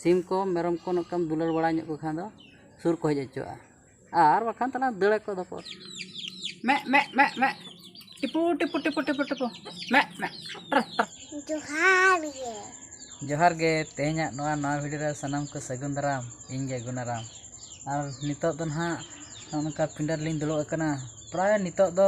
ᱥᱤᱢ ᱠᱚ ᱢᱮᱨᱚᱢ ᱠᱚ ᱱᱚᱝᱠᱟᱢ ᱫᱩᱞᱟᱹᱲ ᱵᱟᱲᱟ ᱧᱚᱜ ᱠᱚ ᱠᱷᱟᱱ ᱫᱚ ᱥᱩᱨ ᱠᱚ ᱦᱮᱡ ᱦᱚᱪᱚᱣᱟᱜᱼᱟ ᱟᱨ ᱵᱟᱠᱷᱟᱱ ᱛᱟᱞᱟᱝ ᱫᱟᱹᱲ ᱟᱠᱚ ᱟᱫᱚ ᱠᱚ ᱢᱮᱜ ᱢᱮᱜ ᱢᱮᱜ ᱢᱮᱜ ᱴᱤᱯᱩ ᱴᱤᱯᱩ ᱴᱤᱯᱩ ᱴᱤᱯᱩ ᱴᱤᱯᱩ ᱢᱮᱜ ᱢᱮᱜ ᱴᱨᱚ ᱴᱨᱚ ᱡᱚᱦᱟᱨ ᱜᱮ ᱡᱚᱦᱟᱨ ᱜᱮ ᱛᱮᱦᱮᱧᱟᱜ ᱱᱚᱣᱟ ᱱᱟᱣᱟ ᱵᱷᱤᱰᱤᱭᱳ ᱨᱮ ᱥᱟᱱᱟᱢ ᱠᱚ ᱥᱟᱹᱜᱩᱱ ᱫᱟᱨᱟᱢ ᱤᱧ ᱜᱮ ᱜᱩᱱᱟᱨᱟᱢ ᱟᱨ ᱱᱤᱛᱚᱜ ᱫᱚ ᱱᱟᱦᱟᱜ ᱱᱚᱜᱼᱚ ᱱᱚᱝᱠᱟ ᱯᱤᱸᱰᱟᱹ ᱨᱮᱞᱤᱧ ᱫᱩᱲᱩᱵ ᱟᱠᱟᱱᱟ ᱯᱨᱟᱭ ᱱᱤᱛᱚᱜ ᱫᱚ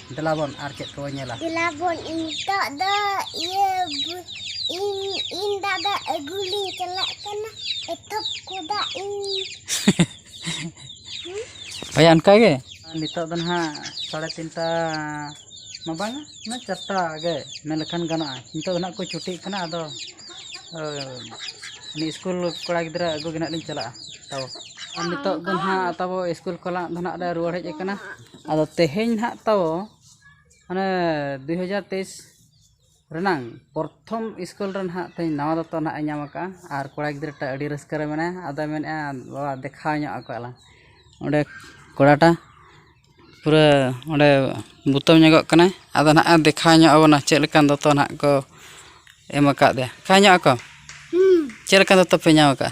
ᱫᱮᱞᱟ ᱵᱚᱱ ᱟᱨ ᱪᱮᱫ ᱠᱚ ᱧᱮᱞᱟ ᱫᱮᱞᱟ ᱵᱚᱱ ᱱᱤᱛᱚᱜ ᱫᱚ ᱤᱭᱟᱹ ᱤᱧ ᱤᱧ ᱫᱟᱫᱟ ᱟᱹᱜᱩ ᱞᱤᱧ ᱪᱟᱞᱟᱜ ᱠᱟᱱᱟ ᱮᱛᱚᱵ ᱠᱚᱫᱟ ᱤᱧ ᱦᱳᱭ ᱚᱱᱠᱟ ᱜᱮ ᱱᱤᱛᱚᱜ ᱫᱚ ᱱᱟᱦᱟᱜ ᱥᱟᱲᱮ ᱛᱤᱱᱴᱟ ᱢᱟ ᱵᱟᱝ ᱚᱱᱟ ᱪᱟᱨᱴᱟ ᱜᱮ ᱢᱮᱱ ᱞᱮᱠᱷᱟᱱ ᱜᱟᱱᱚᱜᱼᱟ ᱱᱤᱛᱚᱜ ᱫᱚ ᱱᱟᱦᱟᱜ ᱠᱚ ᱪᱷᱩᱴᱤᱜ ᱠᱟᱱᱟ ᱟᱫᱚ ᱩᱱᱤ ᱥᱠᱩᱞ ᱠᱚᱲᱟ ᱜᱤᱫᱽᱨᱟᱹ ᱟᱹᱜᱩ ᱜᱮ ᱱᱟᱦᱟᱜ ᱞᱤᱧ ᱪᱟᱞᱟᱜᱼᱟ ᱛᱟᱵᱚ ᱱᱤᱛᱚᱜ ᱫᱚ ᱱᱟᱦᱟᱜ ᱛᱟᱵᱚ ᱥᱠᱩᱞ ᱠᱷᱚᱱᱟᱜ ᱫᱚ ᱱᱟᱦᱟᱜ ᱞᱮ ᱨᱩᱣᱟᱹᱲ ᱦᱮᱡ ᱠᱟᱱᱟ ᱟᱫᱚ ᱛᱮᱦᱮᱧ ᱱᱟᱦᱟᱜ ᱛᱚ ᱢᱟᱱᱮ ᱫᱩᱭ ᱦᱟᱡᱟᱨ ᱛᱮᱭᱤᱥ ᱨᱮᱱᱟᱝ ᱯᱨᱚᱛᱷᱚᱢ ᱥᱠᱩᱞ ᱨᱮ ᱱᱟᱦᱟᱜ ᱛᱮᱦᱮᱧ ᱱᱟᱣᱟ ᱫᱚᱛᱚ ᱱᱟᱦᱟᱜ ᱮ ᱧᱟᱢ ᱟᱠᱟᱫᱼᱟ ᱟᱨ ᱠᱚᱲᱟ ᱜᱤᱫᱽᱨᱟᱹ ᱴᱟᱜ ᱟᱹᱰᱤ ᱨᱟᱹᱥᱠᱟᱹ ᱨᱮ ᱢᱮᱱᱟᱭᱟ ᱟᱫᱚᱭ ᱢᱮᱱᱮᱫᱼᱟ ᱵᱟᱵᱟ ᱫᱮᱠᱷᱟᱣ ᱧᱚᱜ ᱟᱠᱚᱣᱟ ᱞᱟᱝ ᱚᱸᱰᱮ ᱠᱚᱲᱟᱴᱟ ᱯᱩᱨᱟᱹ ᱚᱸᱰᱮ ᱵᱩᱛᱟᱹᱢ ᱧᱚᱜᱚᱜ ᱠᱟᱱᱟᱭ ᱟᱫᱚ ᱱᱟᱦᱟᱜ ᱫᱮᱠᱷᱟᱣ ᱧᱚᱜ ᱟᱵᱚᱱᱟ ᱪᱮᱫ ᱞᱮᱠᱟᱱ ᱫᱚᱛᱚ ᱱᱟᱦᱟᱜ ᱠᱚ ᱮᱢ ᱟᱠᱟᱫᱮᱭᱟ ᱫᱮᱠᱷᱟᱣ ᱧᱚᱜ ᱟᱠᱚᱣᱟᱢ ᱪᱮᱫ ᱞᱮᱠᱟᱱ ᱫᱚᱛᱚ ᱯᱮ ᱧᱟᱢ ᱟᱠᱟᱫᱼᱟ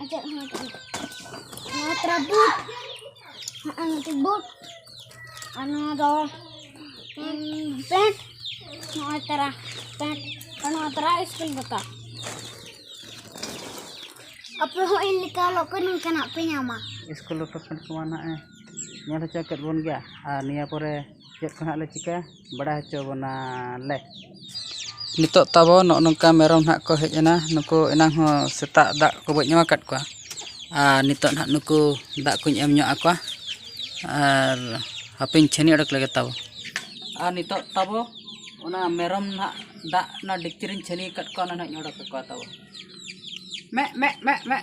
ᱟᱪᱪᱷᱟ ᱦᱚᱸ ᱱᱚᱣᱟ ᱛᱨᱟ ᱵᱩᱴ ᱦᱚᱸ ᱢᱤᱫᱴᱤᱡ ᱵᱩᱴ ᱟᱨ ᱱᱚᱣᱟ ᱫᱚ ᱯᱮᱱᱴ ᱱᱚᱜᱼᱚᱭ ᱛᱟᱨᱟ ᱯᱮᱱᱴ ᱟᱨ ᱱᱚᱣᱟ ᱛᱟᱨᱟ ᱥᱠᱩᱞ ᱵᱚᱛᱟ ᱟᱯᱮ ᱦᱚᱸ ᱤᱧ ᱞᱮᱠᱟ ᱚᱞᱚᱜ ᱯᱮ ᱱᱚᱝᱠᱟᱱᱟᱜ ᱯᱮ ᱧᱟᱢᱟ ᱥᱠᱩᱞ ᱵᱚᱛᱟ ᱯᱮᱱᱴ ᱠᱚᱢᱟ ᱱᱟᱦᱟᱜ ᱧᱮᱞ ᱦᱚᱪᱚ ᱠᱮᱫ ᱵᱚᱱ ᱜᱮᱭᱟ ᱟᱨ ᱱᱤᱭᱟᱹ ᱯᱚᱨᱮ ᱪᱮᱫ ᱠᱚ ᱱᱟᱦᱟᱜ ᱞᱮ ᱪᱤᱠᱟᱹᱭᱟ ᱵᱟᱲᱟᱭ ᱦᱚᱪᱚ ᱵᱚᱱᱟ ᱞᱮ ᱱᱤᱛᱚᱜ ᱛᱟᱵᱚ ᱱᱚᱜᱼᱚ ᱱᱚᱝᱠᱟ ᱢᱮᱨᱚᱢ ᱦᱟᱸᱜ ᱠᱚ ᱦᱮᱡ ᱮᱱᱟ ᱱᱩᱠᱩ ᱮᱱᱟᱝ ᱦᱚᱸ ᱥᱮᱛᱟᱜ ᱫᱟᱜ ᱠᱚ ᱵᱟᱹᱧ ᱮᱢ ᱟᱠᱟᱫ ᱠᱚᱣᱟ ᱟᱨ ᱱᱤᱛᱚᱜ ᱦᱟᱸᱜ ᱱᱩᱠᱩ ᱫᱟᱜ ᱠᱚᱧ ᱮᱢ ᱧᱚᱜ ᱟᱠᱚᱣᱟ ᱟᱨ ᱦᱟᱯᱮᱧ ᱪᱷᱟᱹᱱᱤ ᱚᱰᱚᱠ ᱞᱮᱜᱮ ᱛᱟᱵᱚ ᱟᱨ ᱱᱤᱛᱚᱜ ᱛᱟᱵᱚ ᱚᱱᱟ ᱢᱮᱨᱚᱢ ᱦᱟᱸᱜ ᱫᱟᱜ ᱚᱱᱟ ᱰᱮᱠᱪᱤ ᱨᱤᱧ ᱪᱷᱟᱹᱱᱤ ᱟᱠᱟᱫ ᱠᱚᱣᱟ ᱚᱱᱟ ᱦᱟᱸᱜ ᱤᱧ ᱚᱰᱚᱠ ᱟᱠᱚᱣᱟ ᱛᱟᱵᱚ ᱢᱮᱜ ᱢᱮᱜ ᱢᱮᱜ ᱢᱮᱜ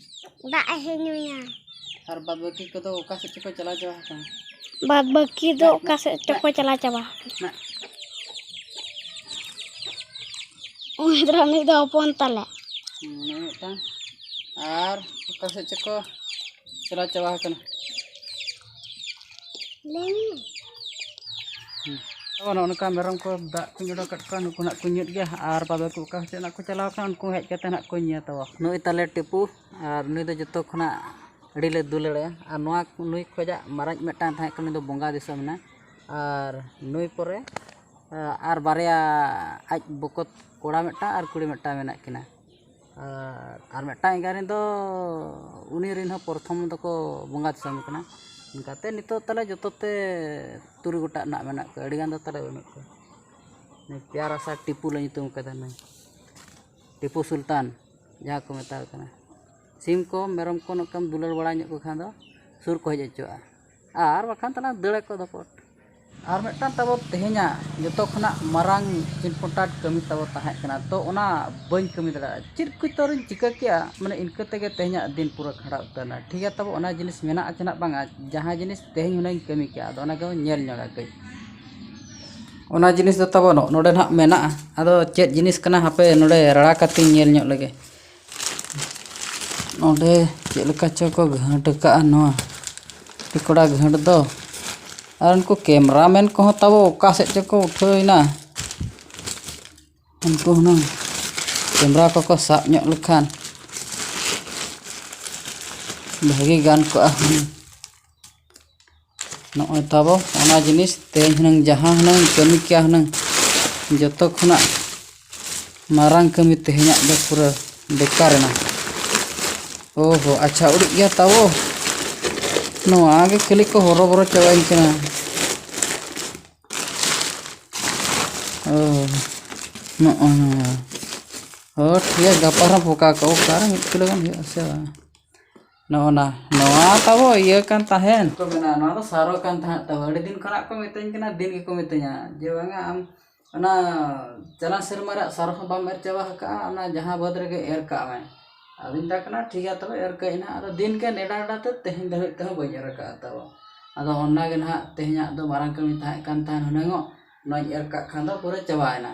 ᱫᱟᱜ ᱮ ᱧᱩᱭᱟ ᱟᱨ ᱵᱟᱫ ᱵᱟᱹᱠᱤ ᱠᱚᱫᱚ ᱚᱠᱟ ᱥᱮᱫ ᱪᱚᱠᱚ ᱪᱟᱞᱟᱣ ᱪᱟᱵᱟ ᱟᱠᱟᱱᱟ ᱵᱟᱫ ᱵᱟᱹᱠᱤ ᱫᱚ ᱚᱠᱟ ᱥᱮᱫ ᱪᱚᱠᱚ ᱪᱟᱞᱟᱣ ᱪᱟᱵᱟ ᱟᱠᱟᱱᱟ ᱩᱱᱤ ᱫᱚ ᱢᱤᱫ ᱫᱚ ᱦᱚᱯᱚᱱ ᱛᱟᱞᱮ ᱢᱤᱫᱴᱟᱝ ᱟᱨ ᱚᱠᱟ ᱥᱮᱫ ᱪᱚᱠᱚ ᱪᱟᱞᱟᱣ ᱪᱟᱵᱟ ᱟᱠᱟᱱᱟ ᱱᱚᱜᱼᱚ ᱱᱚᱝᱠᱟ ᱢᱮᱨᱚᱢ ᱠᱚ ᱫᱟᱜ ᱠᱚᱧ ᱚᱰᱚᱠ ᱟᱠᱟᱫ ᱠᱚᱣᱟ ᱱᱩᱠᱩ ᱱᱟᱦᱟᱜ ᱠᱚ ᱧᱩᱭᱮᱫ ᱜᱮᱭᱟ ᱟᱨ ᱵᱟᱵᱟ ᱠᱚ ᱚᱠᱟ ᱥᱮᱫ ᱱᱟᱦᱟᱜ ᱠᱚ ᱪᱟᱞᱟᱣ ᱠᱟᱱᱟ ᱩᱱᱠᱩ ᱦᱮᱡ ᱠᱟᱛᱮᱫ ᱱᱟᱦᱟᱜ ᱠᱚ ᱧᱩᱭ ᱛᱟᱵᱚᱣᱟ ᱱᱩᱭ ᱛᱟᱞᱮ ᱴᱤᱯᱩ ᱟᱨ ᱱᱩᱭ ᱫᱚ ᱡᱚᱛᱚ ᱠᱷᱚᱱᱟᱜ ᱟᱹᱰᱤ ᱞᱮ ᱫᱩᱞᱟᱹᱲ ᱟᱭᱟ ᱟᱨ ᱱᱚᱣᱟ ᱱᱩᱭ ᱠᱷᱚᱱᱟᱜ ᱢᱟᱨᱟᱝᱤᱡ ᱢᱤᱫᱴᱟᱝ ᱛᱟᱦᱮᱸ ᱠᱟᱱᱟᱭ ᱩᱱᱤ ᱫᱚ ᱵᱚᱸᱜᱟ ᱫᱤᱥᱚᱢ ᱮᱱᱟᱭ ᱟᱨ ᱱᱩᱭ ᱯᱚᱨᱮ ᱟᱨ ᱵᱟᱨᱭᱟ ᱟᱡ ᱵᱚᱠᱚᱛ ᱠᱚᱲᱟ ᱢᱤᱫᱴᱟᱝ ᱟᱨ ᱠᱩᱲᱤ ᱢᱤᱫᱴᱟᱝ ᱢᱮᱱᱟᱜ ᱠᱤᱱᱟᱹ ᱟᱨ ᱟᱨ ᱢᱤᱫᱴᱟᱝ ᱮᱸᱜᱟ ᱨᱮᱱ ᱫᱚ ᱩᱱᱤ ᱨᱮᱱ ᱦᱚᱸ ᱯᱨᱚᱛᱷᱚᱢ ᱫᱚᱠᱚ ᱵᱚᱸᱜᱟ ᱫᱤᱥᱚᱢ ᱠᱟᱱᱟ ᱚᱱᱠᱟᱛᱮ ᱱᱤᱛᱳᱜ ᱛᱟᱞᱮ ᱡᱚᱛᱚ ᱛᱮ ᱛᱩᱨᱩᱭ ᱜᱚᱴᱟᱜ ᱱᱟᱜ ᱢᱮᱱᱟᱜ ᱠᱚᱣᱟ ᱟᱹᱰᱤ ᱜᱟᱱ ᱫᱚ ᱛᱟᱞᱮ ᱵᱟᱹᱱᱩᱜ ᱠᱚᱣᱟ ᱱᱩᱭ ᱯᱮᱭᱟ ᱨᱟᱥᱟ ᱴᱤᱯᱩ ᱞᱮ ᱧᱩᱛᱩᱢ ᱠᱟᱫᱟ ᱱᱩᱭ ᱴᱤᱯᱩ ᱥᱩᱞᱛᱟᱱ ᱡᱟᱦᱟᱸ ᱠᱚ ᱢᱮᱛᱟᱭ ᱠᱟᱱᱟ ᱥᱤᱢ ᱠᱚ ᱢᱮᱨᱚᱢ ᱠᱚ ᱱᱚᱝᱠᱟᱢ ᱫᱩᱞᱟᱹᱲ ᱵᱟᱲᱟ ᱧᱚᱜ ᱠᱚ ᱠᱷᱟᱱ ᱫᱚ ᱥᱩᱨ ᱠᱚ ᱦᱮᱡ ᱦᱚᱪᱚᱣᱟᱜᱼᱟ ᱟᱨ ᱵᱟᱠᱷᱟᱱ ᱛᱟᱞᱟᱝ ᱫᱟᱹᱲ ᱟᱠᱚ ᱫᱷᱚᱯᱚᱴ ᱟᱨ ᱢᱤᱫᱴᱟᱱ ᱛᱟᱵᱚ ᱛᱮᱦᱮᱧᱟᱜ ᱡᱚᱛᱚ ᱠᱷᱚᱱᱟᱜ ᱢᱟᱨᱟᱝ ᱤᱢᱯᱳᱨᱴᱮᱱᱴ ᱠᱟᱹᱢᱤ ᱛᱟᱵᱚ ᱛᱟᱦᱮᱸ ᱠᱟᱱᱟ ᱛᱚ ᱚᱱᱟ ᱵᱟᱹᱧ ᱠᱟᱹᱢᱤ ᱫᱟᱲᱮᱭᱟᱜᱼᱟ ᱪᱮᱫ ᱠᱚᱪᱚᱝ ᱪᱤᱠᱟᱹ ᱠᱮᱜᱼᱟ ᱢᱟᱱᱮ ᱤᱱᱠᱟᱹ ᱛᱮᱜᱮ ᱛᱮᱦᱮᱧᱟᱜ ᱫᱤᱱ ᱯᱩᱨᱟᱹ ᱠᱷᱟᱸᱰᱟᱣ ᱩᱛᱟᱹᱨᱮᱱᱟ ᱴᱷᱤᱠ ᱜᱮᱭᱟ ᱛᱟᱵᱚ ᱚᱱᱟ ᱡᱤᱱᱤᱥ ᱢᱮᱱᱟᱜᱼᱟ ᱥᱮ ᱵᱟᱝᱟ ᱡᱟᱦᱟᱸ ᱡᱤᱱᱤᱥ ᱛᱮᱦᱮᱧ ᱦᱩᱱᱟᱹᱝ ᱤᱧ ᱠᱟᱹᱢᱤ ᱠᱮᱭᱟ ᱟᱫᱚ ᱚᱱᱟ ᱜᱮᱵᱚᱱ ᱧᱮᱞ ᱧᱚᱜᱟ ᱠᱟᱹᱡ ᱚᱱᱟ ᱡᱤᱱᱤᱥ ᱫᱚ ᱛᱟᱵᱚ ᱱᱚᱜᱼᱚᱸᱭ ᱱᱚᱰᱮ ᱦᱟᱸᱜ ᱢᱮᱱᱟᱜᱼᱟ ᱟᱫᱚ ᱪᱮᱫ ᱡᱤᱱᱤᱥ ᱠᱟᱱᱟ ᱦᱟᱯᱮ ᱱᱚᱰᱮ ᱨᱟᱲᱟ ᱠᱟᱛᱮᱧ ᱧᱮᱞ ᱧᱚᱜ ᱞᱮᱜᱮ ᱱᱚᱰᱮ ᱪᱮᱫ ᱞᱮᱠᱟ ᱪᱚ ᱠᱚ ᱜᱷᱟᱹᱴ ᱟᱠᱟᱫᱼᱟ ᱱᱚᱣᱟ ᱴᱤᱠᱚᱲᱟ ᱜᱷᱟᱹᱴ ᱫᱚ ᱟᱨ ᱩᱱᱠᱩ ᱠᱮᱢᱨᱟᱢᱮᱱ ᱠᱚᱦᱚᱸ ᱛᱟᱵᱚ ᱚᱠᱟ ᱥᱮᱫ ᱪᱚᱠᱚ ᱩᱴᱷᱟᱹᱣᱮᱱᱟ ᱩᱱᱠᱩ ᱦᱩᱱᱟᱹᱝ ᱠᱮᱢᱨᱟ ᱠᱚᱠᱚ ᱥᱟᱵ ᱧᱚᱜ ᱞᱮᱠᱷᱟᱱ ᱵᱷᱟᱹᱜᱤ ᱜᱟᱱ ᱠᱚᱜᱼᱟ ᱦᱩᱱᱟᱹᱝ ᱱᱚᱜᱼᱚᱭ ᱛᱟᱵᱚ ᱚᱱᱟ ᱡᱤᱱᱤᱥ ᱛᱮᱦᱮᱧ ᱦᱩᱱᱟᱹᱝ ᱡᱟᱦᱟᱸ ᱦᱩᱱᱟᱹᱝ ᱠᱟᱹᱢᱤ ᱠᱮᱭᱟ ᱦᱩᱱᱟᱹᱝ ᱡᱚᱛᱚ ᱠᱷᱚᱱᱟᱜ ᱢᱟᱨᱟᱝ ᱠᱟᱹᱢᱤ ᱛᱮᱦᱮᱧᱟᱜ ᱫᱚ ᱯᱩᱨᱟᱹ ᱵᱮᱠᱟᱨ ᱮᱱᱟ ᱚ ᱦᱚᱸ ᱟᱪᱪᱷᱟ ᱩᱰᱩᱠ ᱜᱮᱭᱟ ᱛᱟᱵᱚ ᱱᱚᱣᱟ ᱜᱮ ᱠᱷᱟᱹᱞᱤ ᱠᱚ ᱦᱚᱨᱚᱵᱚᱨᱚ ᱪᱟᱵᱟᱧ ᱠᱟᱱᱟ ᱚ ᱱᱚᱜᱼᱚᱭ ᱦᱚᱸ ᱴᱷᱤᱠ ᱜᱮᱭᱟ ᱜᱟᱯᱟ ᱦᱚᱸ ᱯᱚᱠᱟᱣ ᱠᱟᱜᱼᱟ ᱚᱠᱟᱨᱮ ᱢᱤᱫ ᱠᱤᱞᱳ ᱜᱟᱱ ᱦᱩᱭᱩᱜᱼᱟ ᱥᱮ ᱵᱟᱝ ᱱᱚᱜᱼᱚ ᱱᱟ ᱱᱚᱣᱟ ᱛᱟᱵᱚ ᱤᱭᱟᱹ ᱠᱟᱱ ᱛᱟᱦᱮᱸᱫ ᱠᱚ ᱢᱮᱱᱟ ᱱᱚᱣᱟ ᱫᱚ ᱥᱟᱨᱚ ᱠᱟᱱ ᱛᱟᱦᱮᱸᱫ ᱛᱟᱵᱚ ᱟᱹᱰᱤ ᱫᱤᱱ ᱠᱷᱚᱱᱟᱜ ᱠᱚ ᱢᱤᱛᱟᱹᱧ ᱠᱟᱱᱟ ᱫᱤᱱ ᱜᱮᱠᱚ ᱢᱤᱛᱟᱹᱧᱟ ᱡᱮ ᱵᱟᱝᱟ ᱟᱢ ᱚᱱᱟ ᱪᱟᱞᱟᱣ ᱮᱱ ᱥᱮᱨᱢᱟ ᱨᱮᱭᱟᱜ ᱥᱟᱨ ᱦᱚᱸ ᱵᱟᱢ ᱮᱨ ᱪᱟᱵᱟ ᱟᱠᱟᱫᱼᱟ ᱚᱱᱟ ᱡᱟᱦᱟᱸ ᱵᱟᱹᱫᱽ ᱨᱮᱜᱮ ᱮᱨ ᱠᱟᱜ ᱢᱮ ᱟᱫᱚᱧ ᱢᱮᱛᱟᱭ ᱠᱟᱱᱟ ᱴᱷᱤᱠ ᱜᱮᱭᱟ ᱛᱚᱵᱮ ᱮᱨ ᱠᱟᱜ ᱟᱹᱧ ᱦᱟᱸᱜ ᱟᱫᱚ ᱫᱤᱱ ᱜᱮ ᱱᱮᱰᱟ ᱱᱮᱰᱟ ᱛᱮ ᱛᱮᱦᱮᱧ ᱫᱷᱟᱹᱵᱤᱡ ᱛᱮᱦᱚᱸ ᱵᱟᱹᱧ ᱮᱨ ᱠᱟᱜᱼᱟ ᱛᱟᱵᱚ ᱟᱫᱚ ᱚᱱᱟᱜᱮ ᱦᱟᱸᱜ ᱛᱮᱦᱮᱧᱟᱜ ᱫᱚ ᱢᱟᱨᱟᱝ ᱠᱟᱹᱢᱤ ᱛᱟᱦᱮᱸ ᱠᱟᱱ ᱛᱟᱦᱮᱸᱫ ᱦᱩᱱᱟᱹᱝ ᱚᱜ ᱱᱚᱣᱟᱧ ᱮᱨ ᱠᱟᱜ ᱠᱷᱟᱱ ᱫᱚ ᱯᱩᱨᱟᱹ ᱪᱟᱵᱟᱭᱮᱱᱟ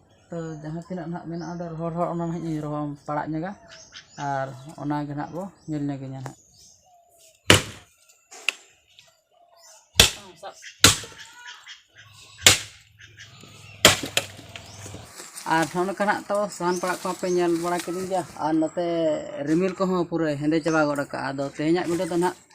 ᱛᱚ ᱡᱟᱦᱟᱸ ᱛᱤᱱᱟᱹᱜ ᱱᱟᱦᱟᱜ ᱢᱮᱱᱟᱜᱼᱟ ᱫᱟᱨᱮ ᱨᱚᱦᱚᱲ ᱨᱚᱦᱚᱲ ᱚᱱᱟ ᱱᱟᱦᱟᱜ ᱤᱧ ᱨᱚᱦᱚᱲ ᱯᱟᱲᱟᱜ ᱧᱚᱜᱟ ᱟᱨ ᱚᱱᱟ ᱜᱮ ᱱᱟᱦᱟᱜ ᱵᱚ ᱧᱮᱞ ᱧᱚᱜᱤᱧᱟ ᱱᱟᱦᱟᱜ ᱟᱨ ᱱᱚᱜᱼᱚ ᱱᱚᱝᱠᱟ ᱱᱟᱦᱟᱜ ᱛᱚ ᱥᱟᱦᱟᱱ ᱯᱟᱲᱟᱜ ᱠᱚᱦᱚᱸ ᱯᱮ ᱧᱮᱞ ᱵᱟᱲᱟ ᱠᱮᱫᱤᱧ ᱜᱮᱭᱟ ᱟᱨ ᱱᱚᱛᱮ ᱨᱤᱢᱤᱞ ᱠᱚᱦᱚᱸ ᱯᱩᱨᱟᱹ ᱦᱮᱸᱫᱮ ᱪᱟᱵᱟ ᱜᱚᱫ ᱠᱟᱜᱼᱟ ᱟᱫᱚ ᱛᱮᱦᱮᱧᱟᱜ ᱵᱷᱤᱰᱤᱭᱳ ᱫᱚ ᱱᱟᱦᱟᱜ